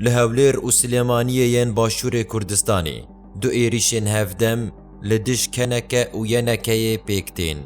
Li Hewlêr û Silêmaniyê yên Başûrê Kurdistanê du êrîşên hevdem li dij keneke û yenekeyê pêk tên.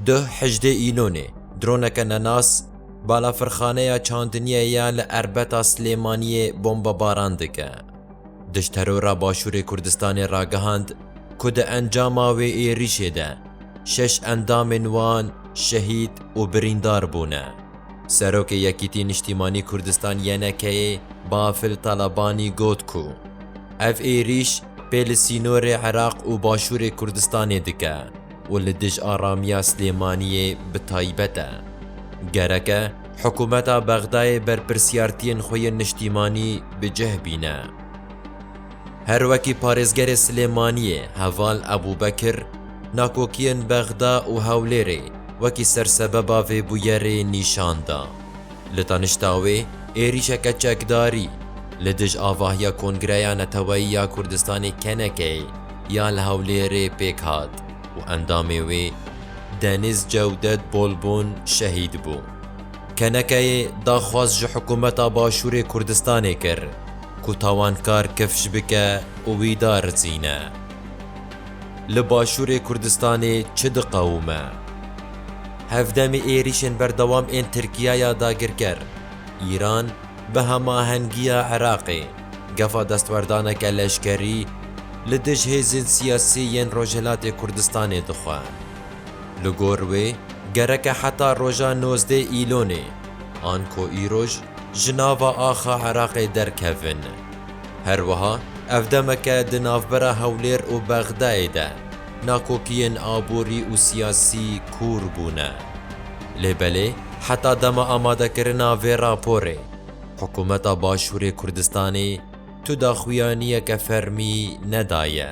Duh hejdê Îlonê droneke nenas balafirxaneya çandiniyê ya li Erbeta Silêmaniyê bombebaran dike. Dijterora Başûrê Kurdistanê ragihand ku di encama wê êrîşê de şeş endamên wan şehîd û birîndar bûne. Serokê Yekîtî Niştîmanî Kurdistan, YNK'ê, Bafil Talabanî got ku ev êrîş pê li sînorê Iraq û başûrê Kurdistanê dike û li dij aramiya Silêmaniyê bi taybet e. Gereke hikûmeta Bexdayê berpirsiyartiyên xwe yên niştîmanî bi cih bîne. Her wekî parêzgerê Silêmaniyê heval Ebûbekir, nakokiyên Bexda û Hewlêrê wekî sersebeba vê bûyerê nîşan da. Li danişta wê êrîşeke çekdarî li dij avahiya Kongreya Neteweyî ya Kurdistanê KNK'ê ya li Hewlêrê pêk hat û endamê wê Deniz Cewdet Bolbon şehîd bû. KNK'ê daxwaz ji hikûmeta Başûrê Kurdistanê kir Ku tawankar kifş bike û wî da rizîne. Li Başûrê Kurdistanê çi diqewime? Hevdemî êrîşên berdewam ên Tirkiye ya dagirker, Îran bi hemahengiya Iraqê gefa destwerdaneke leşkerî li dij hêzên siyasî yên Rojhilatê Kurdistanê dixwe. Li gor wê gereke heta roja nozdeh Îlonê an ku îroj, ji nava axa Iraqê derkevin. Her wiha ev demeke di navbera Hewlêr û Bexdayê de nakokiyên aborî û siyasî kûr bûne. Lê belê heta dema amadekirina vê raporê hikûmeta Başûrê Kurdistanê tu daxuyaniyeke fermî nedaye.